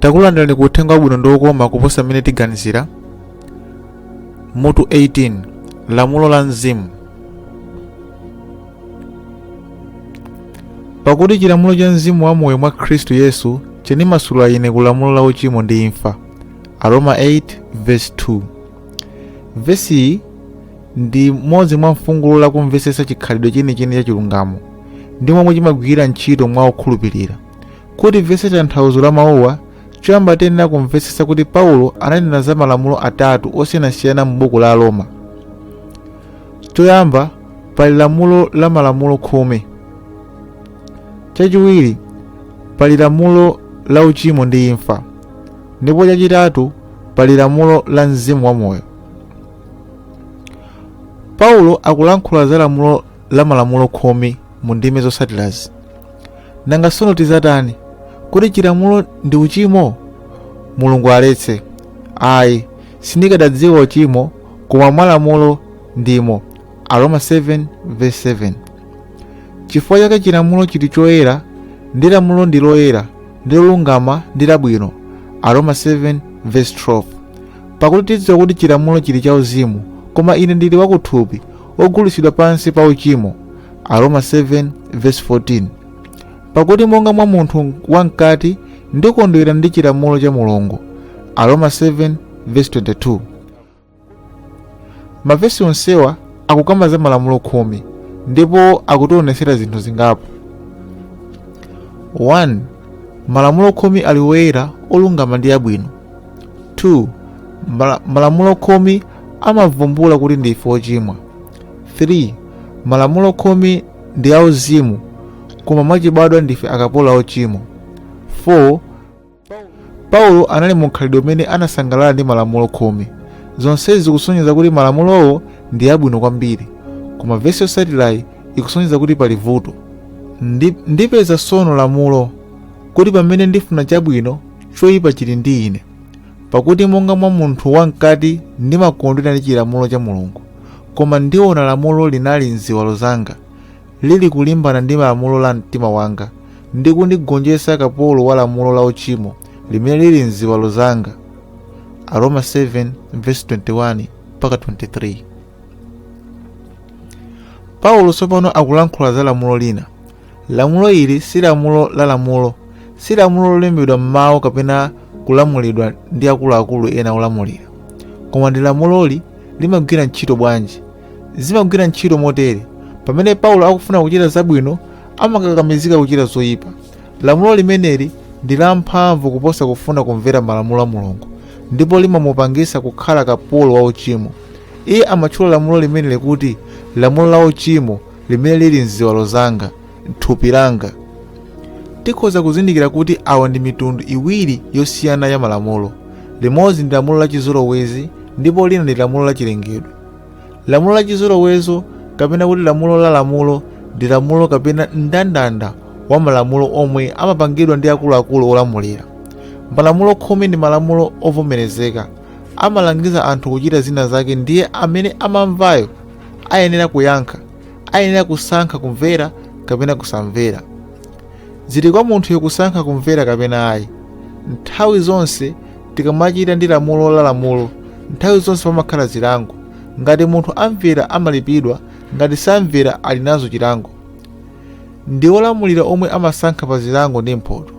takulandirani ku uthenga wabwino ndi wokoma kuposa mmene tiganizira mutu 18 lamulo la mzimu pakuti chilamulo cha mzimu wa moyo mwa khristu yesu chinimasula ine ku lamulo la uchimo ndi imfa Aroma 8 verse 2 vesiyi ndi imodzi mwa mfungulo la kumvetsetsa chikhalidwe chenicheni cha chilungamo ndi momwe chimagwirira ntchito mwa okhulupirira kuti timvetse tanthauzo la mawuwa choyamba tiyenera kumvetsetsa kuti paulo ananena za malamulo atatu osiyanasiyana mu buku la aroma choyamba pali lamulo la malamulo khumi chachiwiri pali lamulo la uchimo ndi imfa ndipo chachitatu pali lamulo la mzimu wa moyo paulo akulankhula za lamulo la malamulo khumi mu ndime zotsatirazi nanga tsono tizatani kodi chilamulo ndi uchimo mulungu aletse ayi sindikadadziwa uchimo koma mwa lamulo ndimo aroma 7 verse 7 chifukwa chake chilamulo chili choyera ndi lamulo ndi loyera ndi lolungama ndi labwino aroma 7 verse 12 pakuti tidziwa kuti chilamulo chili cha uzimu koma ine ndili wakuthupi wogulitsidwa pansi pa uchimo aroma 7 verse 14 pakuti monga mwa munthu wamkati ndikondwera ndi chilamulo cha mulungu aroma 7 verse 22 mavesi onsewa akukamba za malamulo khumi ndipo akutionetsera zinthu zingapo 1 malamulo khumi ali woyera olungama ndi abwino 2 mala- malamulo khumi amavumbula kuti ndife ochimwa 3 malamulo khumi ndi auzimu koma mwachibadwa ndife akapolo ochimwa 4 paulo anali mu mkhalidwe umene anasangalala ndi malamulo khumi zonsezi zikusonyeza kuti malamulowo ndi abwino kwambiri koma vesi yotsatirayi ikusonyeza kuti pali vuto Ndi- ndipeza tsono lamulo kuti pamene ndifuna chabwino choyipa chili ndi ine pakuti monga mwa munthu wamkati ndimakondwera ndi chilamulo cha mulungu koma ndiona lamulo lina m'ziwalo zanga lili kulimbana ndi lamulo la mtima wanga ndi kundigonjetsa kapolo wa lamulo la uchimo limene lili mziwalo zanga aroma 7:21 mpaka 23 paulo tsopano akulankhula za lamulo lina lamulo ili si lamulo la lamulo si lamulo lolembedwa m'mawu kapena kulamulidwa ndi akuluakulu ena olamulira koma kodi lamuloli limagwira ntchito bwanji Zimagwira ntchito motere: pamene Paulo akufuna kuchita zabwino, amakakamizika kuchita zoyipa. Lamulo limeneli ndi lamphamvu kuposa kufuna kumvera malamulo a Mulungu, ndipo limamupangitsa kukhala kapolo wa uchimo. Iye amatchula lamulo limeneli kuti lamulo la uchimo limene lili m'ziwalo zanga, m'thupi langa. Tikhoza kuzindikira kuti awa ndi mitundu iwiri yosiyana ya malamulo. Limodzi ndi lamulo la chizolowezi ndipo lina ndi lamulo la chilengedwe. lamulo la chizolowezo kapena kuti lamulo la lamulo ndi lamulo kapena mndandanda wa malamulo omwe amapangidwa ndi akuluakulu olamulira malamulo khumi ndi malamulo ovomerezeka amalangiza anthu kuchita zina zake ndiye amene amamvayo ayenera kuyankha ayenera kusankha kumvera kapena kusamvera zili kwa munthuyo kusankha kumvera kapena ayi nthawi zonse Tikamachita ndi lamulo la lamulo, nthawi zonse pamakhala zilango. Ngati munthu amvera amalipidwa, ngati samvera ali nazo chilango. Ndi olamulira omwe amasankha pa zilango ndi mphoto.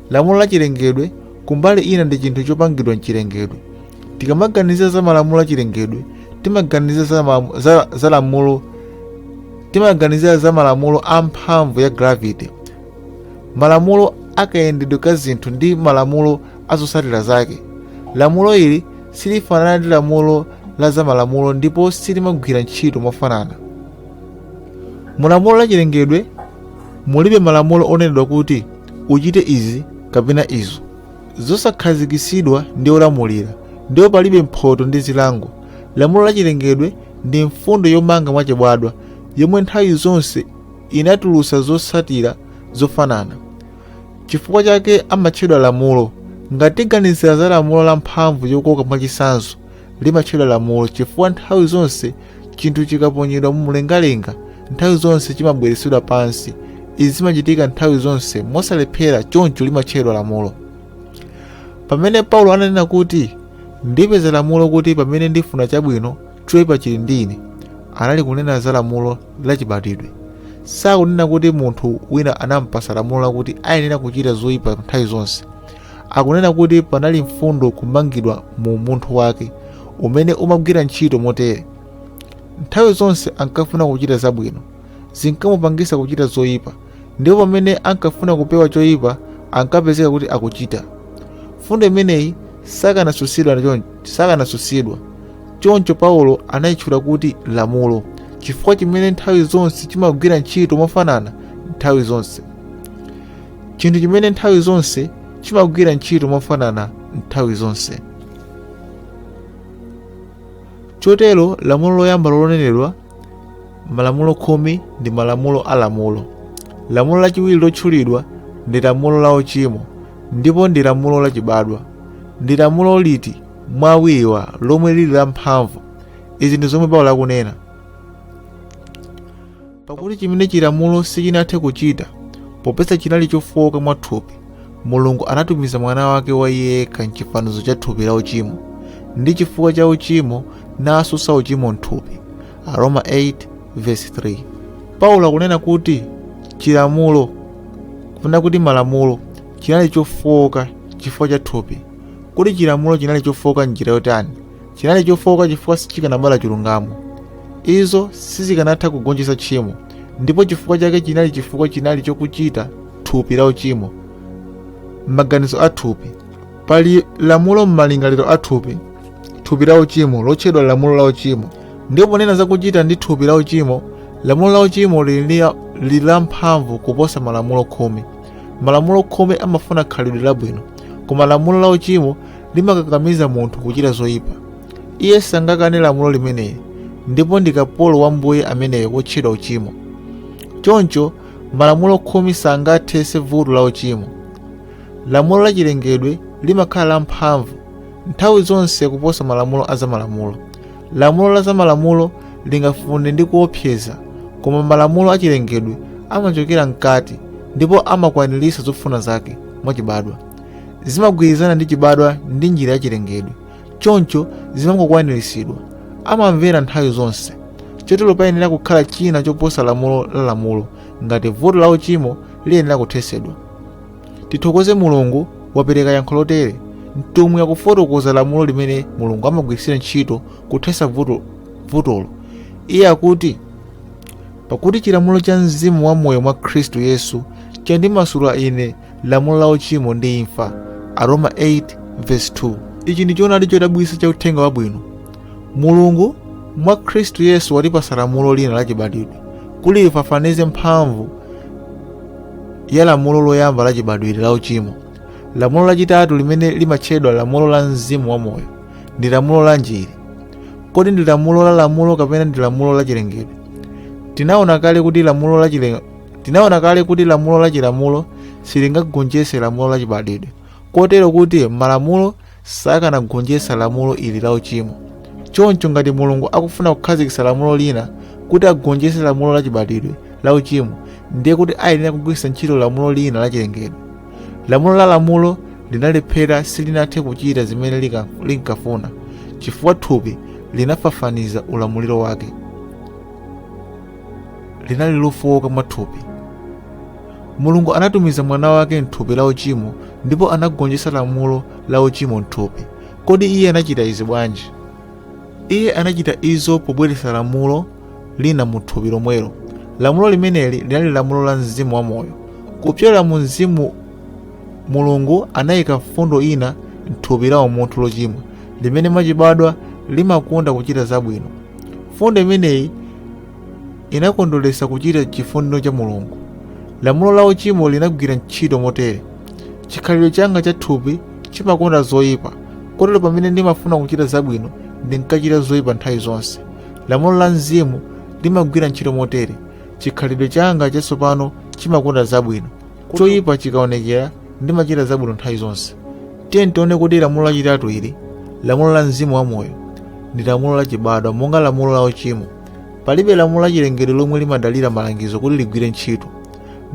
Lamulo la chilengedwe kumbali ina ndi chinthu chopangidwa m'chilengedwe. Tikamaganizira za malamulo a chilengedwe, timaganizira za malamulo a mphamvu ya gravity, malamulo akayendedwe ka zinthu ndi malamulo a zotsatira zake. Lamulo ili silifanana ndi lamulo la zamalamulo ndipo silimagwira ntchito mofanana. Mu lamulo la chilengedwe mulibe malamulo onenedwa kuti uchite izi kapena izo, zosakhazikitsidwa ndi olamulira, ndipo palibe mphoto ndi zilango. Lamulo la chilengedwe ndi mfundo yomanga mwachibadwa yomwe nthawi zonse imatulutsa zotsatira zofanana. Chifukwa chake amatchedwa lamulo. Ngati tiganizira za lamulo la mphamvu yokoka mwachitsanzo, limatchedwa lamulo chifukwa nthawi zonse chinthu chikaponyedwa mu mlengalenga, nthawi zonse chimabweretsedwa pansi. Izi zimachitika nthawi zonse mosalephera, choncho limatchedwa lamulo. Pamene Paulo ananena kuti, Ndipeza lamulo kuti pamene ndifuna chabwino, choipa chili ndi ine, anali kunena za lamulo lachibadwidwe sakunena kuti munthu wina anampasa lamulo lakuti ayenera kuchita zoyipa nthawi zonse akunena kuti panali mfundo kumangidwa mu munthu wake umene umagwira ntchito motere nthawi zonse ankafuna kuchita zabwino zinkamupangisa kuchita zoyipa ndipo pamene ankafuna kupewa choyipa ankapezeka kuti akuchita mfundo imeneyi sikanatsutsidwa chon- sikanatsutsidwa choncho paulo anayitchula kuti lamulo chinthu chimene nthawi zonse chimagwira ntchito mofanana nthawi zonse chinthu chimene nthawi zonse chimagwira ntchito mofanana nthawi zonse chotero lamulo loyamba lonenedwa malamulo khumi ndi malamulo a lamulo lamulo lachiwiri lotchulidwa ndi lamulo la uchimo ndipo ndi lamulo lachibadwa ndi lamulo liti mwa awiriwa lomwe lili la mphamvu izi ndi zomwe paulo akunena pakuti chimene chilamulo sichinathe kuchita popeza chinali chofowoka mwa thupi mulungu anatumiza mwana wake wa iye yekha mchifanizo cha thupi la uchimo ndi chifukwa cha uchimo natsutsa uchimo mthupi aroma 8 verse 3 paulo akunena kuti chilamulo kapena kuti malamulo chinali chofooka chifukwa cha thupi kodi chilamulo chinali chofooka m'njira yotani chinali chofooka chifukwa sichikanabala chilungamo izo sizikanatha kugonjetsa tchimo ndipo chifukwa chake chinali chifukwa chinali chokuchita thupi la uchimo m'maganizo a thupi pali lamulo m'malingaliro a thupi thupi la uchimo lotchedwa lamulo la uchimo ndipo ponena za kuchita ndi thupi la uchimo lamulo la uchimo lili lili la mphamvu kuposa malamulo khumi malamulo khumi amafuna khalidwe labwino koma lamulo la uchimo limakakamiza munthu kuchita zoyipa Iye sangakane lamulo limeneli ndipo ndi kapolo wa mbuye ameneyo wotchedwa uchimo. Choncho, malamulo khumi sangathetse vuto la uchimo. Lamulo la chilengedwe limakhala lamphamvu nthawi zonse kuposa malamulo a zamalamulo. Lamulo la zamalamulo lingafune ndi kuopseza, koma malamulo a chilengedwe amachokera mkati ndipo amakwaniritsa zofuna zake mwachibadwa. Zimagwirizana ndi chibadwa ndi njira ya chilengedwe, choncho zimangokwaniritsidwa amamvera nthawi zonse chotero payenera kukhala china choposa lamulo la lamulo ngati vuto la uchimo liyenera kuthetsedwa tithokoze mulungu wapereka yankho lotere mtumwi akufotokoza lamulo limene mulungu amagwiritsira ntchito kuthetsa vuto- vutolo iye akuti pakuti chilamulo cha mzimu wa moyo mwa khristu yesu chandimasula ine lamulo la uchimo ndi imfa aroma 8 verse 2 ichi ndi choonadi chodabwitsa cha uthenga wabwino mulungu mwa khristu yesu watipasa lamulo lina lachibadwidwe kuti lifafanize mphamvu ya lamulo loyamba lachibadwidwe la uchimo lamulo lachitatu limene limatchedwa lamulo la mzimu wa moyo ndi lamulo lanji ili kodi ndi lamulo la lamulo kapena ndi lamulo la chilengedwe tinaona kale kuti lamulo la chile- Tinaona kale kuti lamulo la chilamulo silingagonjetse lamulo la chibadwidwe, kotero kuti malamulo sakanagonjetsa lamulo ili la uchimo. Choncho ngati Mulungu akufuna kukhazikitsa lamulo lina kuti agonjetse lamulo la chibadwidwe la uchimo, ndiye kuti ayenera kugwiritsa ntchito lamulo lina la chilengedwe. Lamulo la lamulo linalephera silinathe kuchita zimene lika- linkafuna chifukwa thupi linafafaniza ulamuliro wake. linali lofowoka mwathupi mulungu anatumiza mwana wake mthupi la uchimo ndipo anagonjetsa lamulo la uchimo mthupi kodi iye anachita izi bwanji iye anachita izo pobweretsa lamulo lina mu thupi lomwelo lamulo limeneli linali lamulo la mzimu wa moyo kupyolera mu mzimu mulungu anayika mfundo ina mthupi la umunthu lochimwa limene mwachibadwa limakonda kuchita zabwino mfundo imeneyi inakondwera kuchita chifuniro cha mulungu lamulo la uchimo linagwira ntchito motere chikhalidwe changa cha thupi chimakonda zoyipa kotero pamene ndimafuna kuchita zabwino ndinkachita zoyipa nthawi zonse lamulo la mzimu limagwira ntchito motere chikhalidwe changa chatsopano chimakonda zabwino choyipa chikaonekera ndimachita zabwino nthawi zonse tiyeni tione kuti lamulo lachitatu ili lamulo la mzimu wa moyo ndi lamulo lachibadwa monga lamulo la uchimo palibe lamulo lachilengedwe lomwe limadalira malangizo kuti ligwire ntchito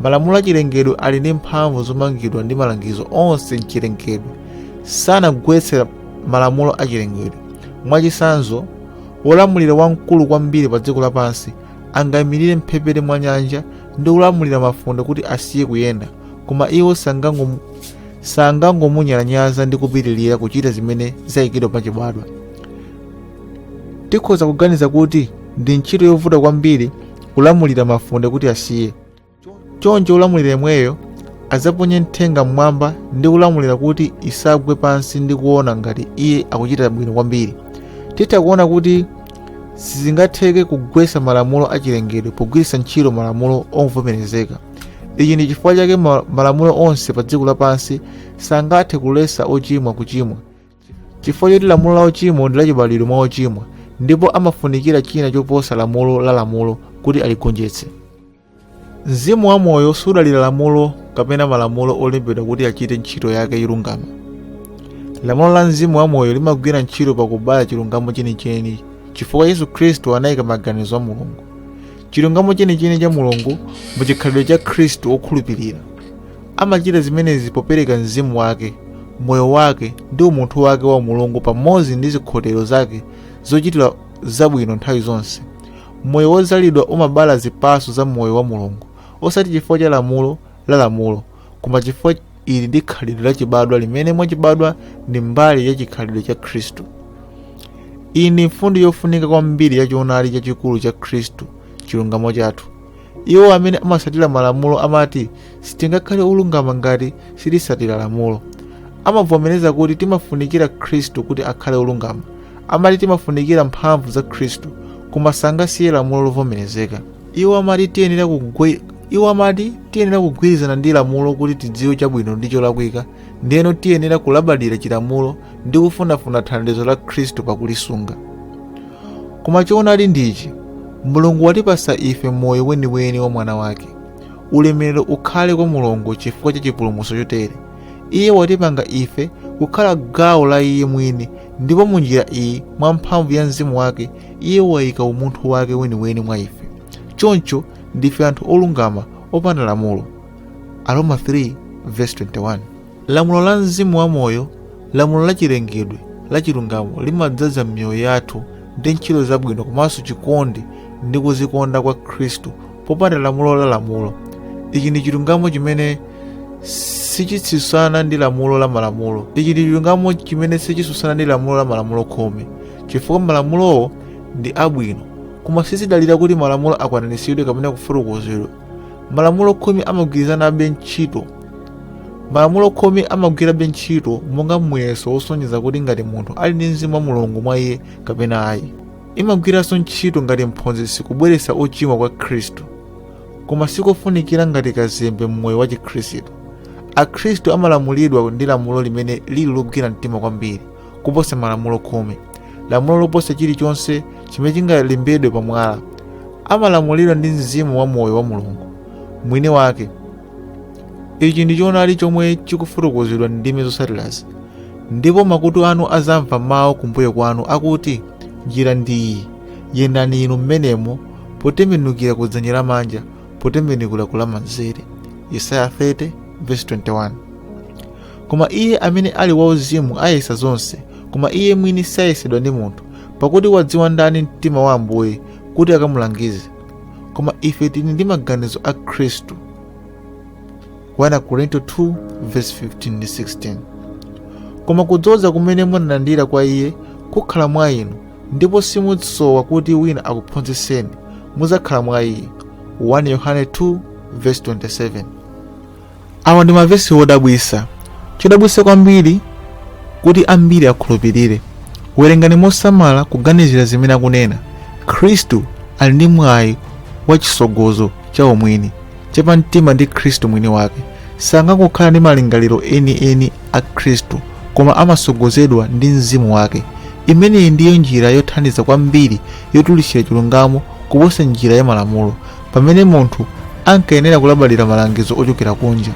malamulo achilengedwe ali ndi mphamvu zomangidwa ndi malangizo onse mchilengedwe sangagwetse malamulo achilengedwe mwachitsanzo wolamulira wamkulu kwambiri pa dziko lapansi angaimirire mphepete mwa nyanja ndi kulamulira mafunde kuti asiye kuyenda koma iwo sangangom- sangangomunyalanyaza ndi kupitirira kuchita zimene zayikidwa pachibadwa tikhoza kuganiza kuti ndi ntchito yovuta kwambiri kulamulira mafunde kuti asiye choncho wolamulira yemweyo adzaponye nthenga mmwamba ndi kulamulira kuti isagwe pansi ndi kuona ngati iye akuchita bwino kwambiri titha kuona kuti sizingatheke kugwetsa malamulo a chilengedwe pogwiritsa ntchito malamulo ovomerezeka ichi ndi chifukwa chake ma- malamulo onse pa dziko lapansi sangathe kuletsa ochimwa kuchimwa chifukwa choti lamulo la uchimo ndi lachibadwidwe mwa ochimwa ndipo amafunikira china choposa lamulo la lamulo kuti aligonjetse Mzimu wamoyo sudalira lamulo kapena malamulo olembedwa kuti achite ntchito yake yolungama. Lamulo la mzimu wamoyo limagwira ntchito pakubala chilungamo chenicheni chifukwa Yesu Khristu anayika maganizo a Mulungu. Chilungamo chenicheni cha Mulungu mu chikhalidwe cha Khristu wokhulupirira. Amachita zimenezi popereka mzimu wake, moyo wake ndi umunthu wake wa umulungu pamodzi ndi zikhotero zake zochitira zabwino nthawi zonse. moyo wodzazidwa umabala zipatso za moyo wa mulungu osati chifukwa cha lamulo la lamulo koma chifukwa ili ndi khalidwe la chibadwa limene mwachibadwa ndi mbali ya chikhalidwe cha khristu iyi ndi mfundo yofunika kwambiri ya choonadi chachikulu cha khristu chilungamo chathu iwo amene amatsatira malamulo amati sitingakhale olungama ngati sititsatira lamulo amavomereza kuti timafunikira khristu kuti akhale olungama amati timafunikira mphamvu za khristu koma sangasiye lamulo lovomerezeka iwo amati tiyenera kugwe- iwo amati tiyenera kugwirizana ndi lamulo kuti tidziwe chabwino ndi cholakwika ndiyeno tiyenera kulabadira chilamulo ndi kufunafuna thandizo la khristu pakulisunga Koma choonadi ndichi, Mulungu watipasa ife moyo weniweni wa mwana wake. Ulemerero ukhale kwa Mulungu chifukwa cha chipulumutso chotere. Iye watipanga ife kukhala gawo la iye mwini ndipo mu njira iyi mwa mphamvu ya mzimu wake iye wayika umunthu wake weniweni mwa ife choncho ndife anthu olungama opanda lamulo aroma 3 verse 21 lamulo la mzimu wa moyo lamulo la chilengedwe la chilungamo limadzaza m'miyoyo yathu ndi ntchito zabwino komanso chikondi ndi kuzikonda kwa khristu popanda lamulo la lamulo ichi ndi chilungamo chimene sichitsutsana ndi lamulo la malamulo ichi ndi chilungamo chimene sichitsutsana ndi lamulo la malamulo khumi chifukwa malamulowo ndi abwino koma sizidalira kuti malamulo akwaniritsidwe kapena kufotokozedwa malamulo khumi amagwirizanabe ntchito malamulo khumi amagwirabe ntchito monga muyeso wosonyeza kuti ngati munthu ali ndi mzimu wa mulungu mwa iye kapena ayi imagwiranso ntchito ngati mphunzitsi kubweretsa ochimwa kwa khristu koma sikofunikira ngati kazembe mmoyo wa chikhristu akhristu amalamulidwa ndi lamulo limene lili logwira mtima kwambiri kuposa malamulo khumi lamulo loposa chilichonse chimene chingalembedwe pa mwala amalamulidwa ndi mzimu wa moyo wa mulungu mwini wake ichi ndi choonadi chomwe chikufotokozedwa m'ndime zotsatirazi ndipo makutu anu azamva mawu kumbuyo kwanu akuti njira ndi iyi yendani inu mmenemo potembenukira ku dzanja lamanja potembenukira ku lamanzere yesaya 30 verse 21 koma iye amene ali wauzimu ayesa zonse koma iye mwini sayesedwa ndi munthu pakuti wadziwa ndani mtima wa ambuye kuti akamulangize koma ife tili ndi maganizo a khristu 1 korinto 2 verse 15 ndi 16 koma kudzoza kumene munalandira kwa iye kukhala mwa inu ndipo simusowa kuti wina akuphunzitseni muzakhala mwa iye 1 yohane 2 verse 27 Awa ndi mavesi wodabwisa. Chodabwisa kwambiri kuti ambiri akhulupilire. Werengani mosamala kuganizira zimene akunena. Mkhristu ali ndi mwayi wa chisogozo cha umwini, cha pa mtima ndi Khristu mwini wake. Sangangokhala ndi malingaliro eni eni a Khristu, koma amasogozedwa ndi mzimu wake. Imeneyi ndiyo njira yothandiza kwambiri yotulutsira chilungamo kuposa njira ya malamulo. pamene munthu ankayenera kulabadira malangizo ochokera kunja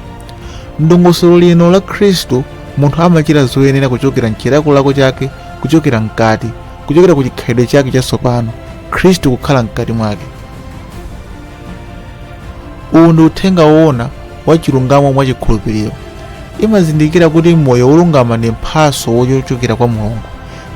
mdongosolo lino la khristu munthu amachita zoyenera kuchokera mchilakolako chake kuchokera mkati kuchokera ku chikhalidwe chake chatsopano khristu kukhala mkati mwake uwu ndi uthenga woona wa chilungamo mwa chikhulupiriro imazindikira kuti moyo wolungama ndi mphatso yochokera kwa mulungu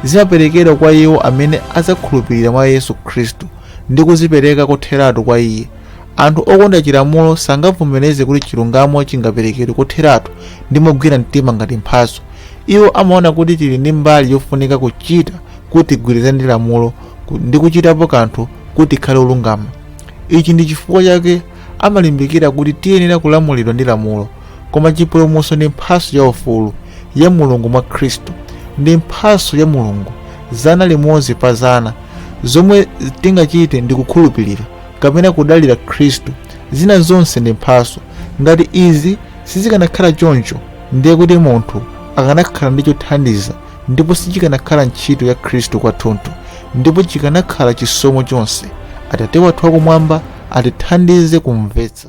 zimaperekedwa kwa iwo amene adzakhulupirira mwa yesu khristu ndi kudzipereka kotheratu kwa iye. Anthu okonda chilamulo sangavomereze kuti chilungamo chingaperekedwe kotheratu ndi mogwira mtima ngati mphatso. Iwo amaona kuti tili ndi mbali yofunika kuchita kuti tigwirizane ndi lamulo ku- ndi kuchitapo kanthu kuti tikhale olungama. Ichi ndi chifukwa chake amalimbikira kuti tiyenera kulamulidwa ndi lamulo. koma chipulumutso ndi mphatso ya ufulu ya mulungu mwa khristu ndi mphatso ya mulungu zana limodzi pa zana zomwe tingachite ndi kukhulupirira kapena kudalira khristu zina zonse ndi mphatso ngati izi sizikanakhala choncho ndiye kuti munthu akanakhala ndi chothandiza ndipo sichikanakhala ntchito ya khristu kwathunthu ndipo sichikanakhala chisomo chonse atate wathu wakumwamba atithandize kumvetsa